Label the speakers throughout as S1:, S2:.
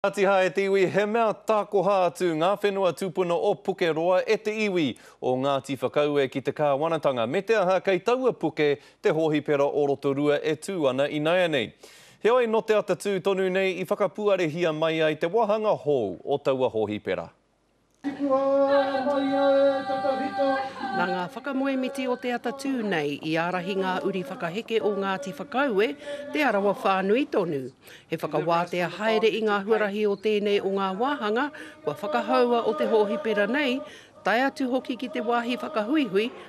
S1: Ngātiha e te iwi he mea tākoha atu ngā whenua tūpuna o Pukeroa e te iwi o Ngāti Whakaue ki te kāwanatanga me te aha kei taua puke te hōhipera o Rotorua e tū ana inaianei. Heoi nō te atatū tonu nei i whakapuarehia mai ai te wāhanga hou o taua hōhipera.
S2: Nā ngā whakamoemiti o te atatū nei i ārahi ngā uri whakaheke o Ngāti Whakaue, Te Arawa whānui tonu. He whakawātea haere i ngā huarahi o tēnei o ngā wāhanga kua whakahaua o te hōhipera nei, tae atu hoki ki te wāhi whakahuihui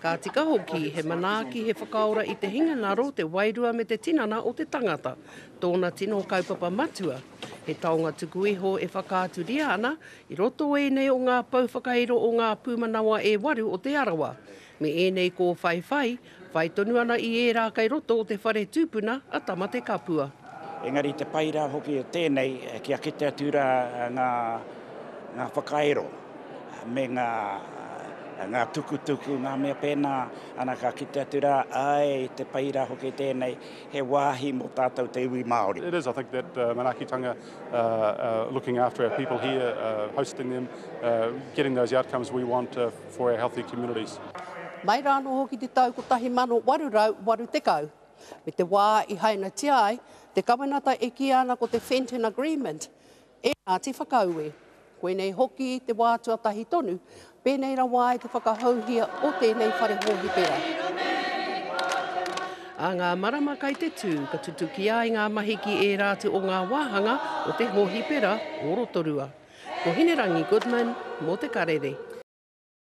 S3: Ka tika
S2: hoki he manaaki, he whakaora i te hinengaro, te wairua me te tinana o te tangata, tōna tino kaupapa matua. He taonga tuku iho e whakaaturia ana i roto o ēnei o ngā pou whakairo o ngā pūmanawa e waru o Te Arawa. Me ēnei kōwhaiwhai, whai tonu ana i ērā kei roto o te whare tūpuna a Tamatekapua. Engari te pai
S4: rā hoki o tēnei, kia kite atu rā ngā whakairo me ngā tukutuku, ngā mea pēnā, ana ka kite atu rā, āe, te pai rā hoki tēnei, he wāhi mō tātou te iwi Māori. It is, I think that
S5: manaakitanga, looking after our people here, hosting them, getting those outcomes we want. for our healthy communities. Mai rāno
S2: hoki te tau 1880, me te wā i hainatia ai te kawenata e kīia ana ko te Fenton Agreement e Ngāti Whakaue. Koinei hoki te wā tuatahi tonu pēnei rawa ai te whakahouhia o tēnei whare hōhipera. A ngā marama kai te tū, ka tutukia ai ngā mahi ki ērā atu o ngā wāhanga o te hōhipera o Rotorua. Ko Hinerangi Goodman mō te karere.